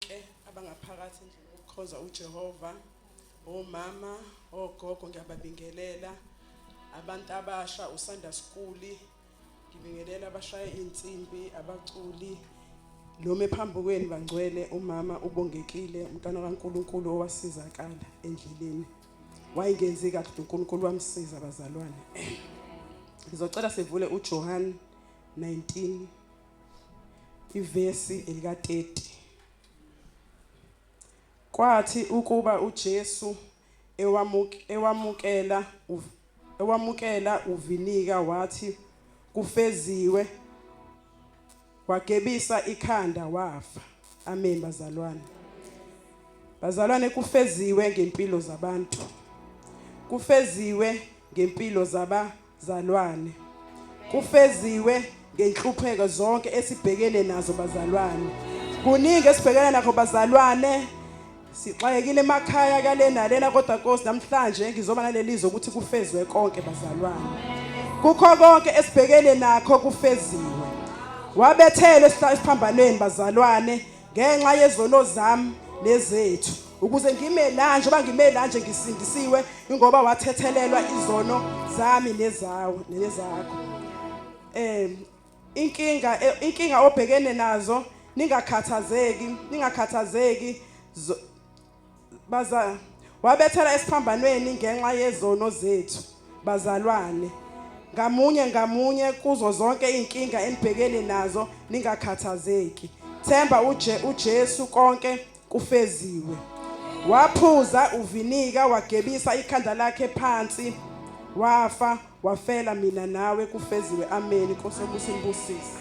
bonke abangaphakathi endlini yokukhonza uJehova omama ogogo ngiyababingelela abantu abasha usanda sikuli ngibingelela abashaye insimbi abaculi noma phambi kwenu bangcwele umama ubongekile umntana kaNkuluNkulu owasizakala endleleni wayengenzi kahle uNkulunkulu wamsiza abazalwane ngizocela sivule uJohn 19 Ivesi elika-30 Kwathi ukuba uJesu ewamukela ewamukela uvinika wathi kufeziwe wagebisa ikhanda wafa amen bazalwane bazalwane kufeziwe ngempilo zabantu kufeziwe ngempilo zaba Zalwane. Kufeziwe ngenhlupheko zonke esibhekene nazo bazalwane. Kuningi esibhekene nakho bazalwane. Sixakekile emakhaya kale nalena kodwa Nkosi namhlanje ngizoba nalelizwe ukuthi kufezwe konke bazalwane. Kukho konke esibhekene nakho kufeziwe. Wabethele esiphambanweni bazalwane ngenxa yezono zami nezethu ukuze ngime la njengoba ngime la nje ngisindisiwe ingoba wathethelelwa izono zami nezawo nezakho eh inkinga eh, inkinga obhekene nazo ningakhathazeki ningakhathazeki baza wabethela esiphambanweni ngenxa yezono zethu bazalwane ngamunye ngamunye kuzo zonke izinkinga enibhekene nazo ningakhathazeki themba uje uJesu konke kufeziwe waphuza uvinika wagebisa ikhanda lakhe phansi wafa wafela mina nawe kufeziwe amen nkosi obusibusise